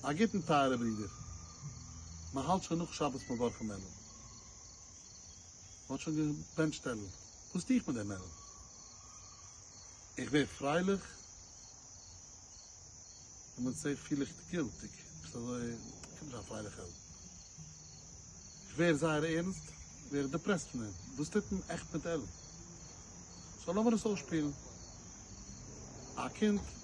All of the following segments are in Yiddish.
א גוטן טייערע ברידער, מען האלט שוין נאך שבת מברכים מענער, מען האט שוין געבענטשט טעלל, וואס טו איך מיט די מענער? איך ווער פרייליך און מצער פיל איך גילטיג, ביסט אזוי אפילו נישט א פרייליכע העלד, איך ווער זייער ערנסט, ווער איך דעפרעסט פון דעם, וואס טוט מען עכט מיט טעלל? סאו לאמיר עס אויסשפילן, א קינד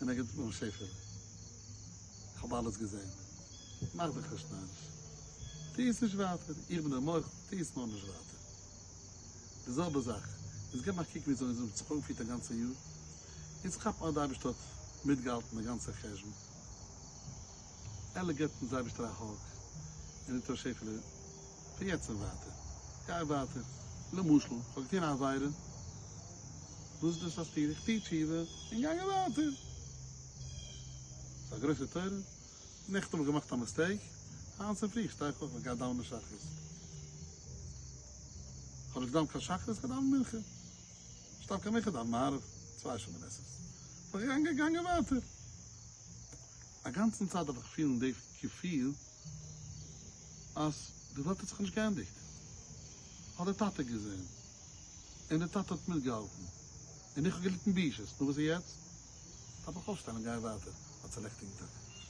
און ער גיט אן שפע. איך האב אלעס געזען. מאך דיך נישט נאריש. טו עס נישט ווייטער. איך בין דער מח, טו עס נאר נישט ווייטער. די זעלבע זאך. יעצט געב א קוק ווי אזוי עס האט זיך אנגעפירט א גאנצע יאר. יעצט כאפ אז די אייבערשטער האט מיטגעהאלטן די גאנצע חשבון. עלעק געבט אונז אייבערשטער א האג און זאגט אוי שפעלע, פון יעצט און ווייטער גיי ווייטער, למשל איך האב געטון א עבירה, וואס איז דאס א סתירה? איך טו תשובה און גיי ווייטער, ס'איז א גרויסע תורה, נעכטן האב איך געמאכט א מיסטעיק, היינט צופרי שטיי איך אויף איך גיי דאווענען שחרית, כ'האב נישט געדאווענט קיין שחרית, כ'האב געדאווענט מנחה, נישט דווקא מנחה, כ'דאווען מעריב, צוויי שעה מנחות, בין איך געגאנגען ווייטער, אגאנצן צייט דארף איך פילן די געפיל. אז די וועלט האט זיך נישט געענדיגט, האט די טאטע געזען, און די טאטע האט מיטגעהאלטן, און איך האב געליטן בושות, נו וואס איז יעצט? דארף איך אויפשטיין און גיין ווייטער אלס א לעכטיגן טאטע?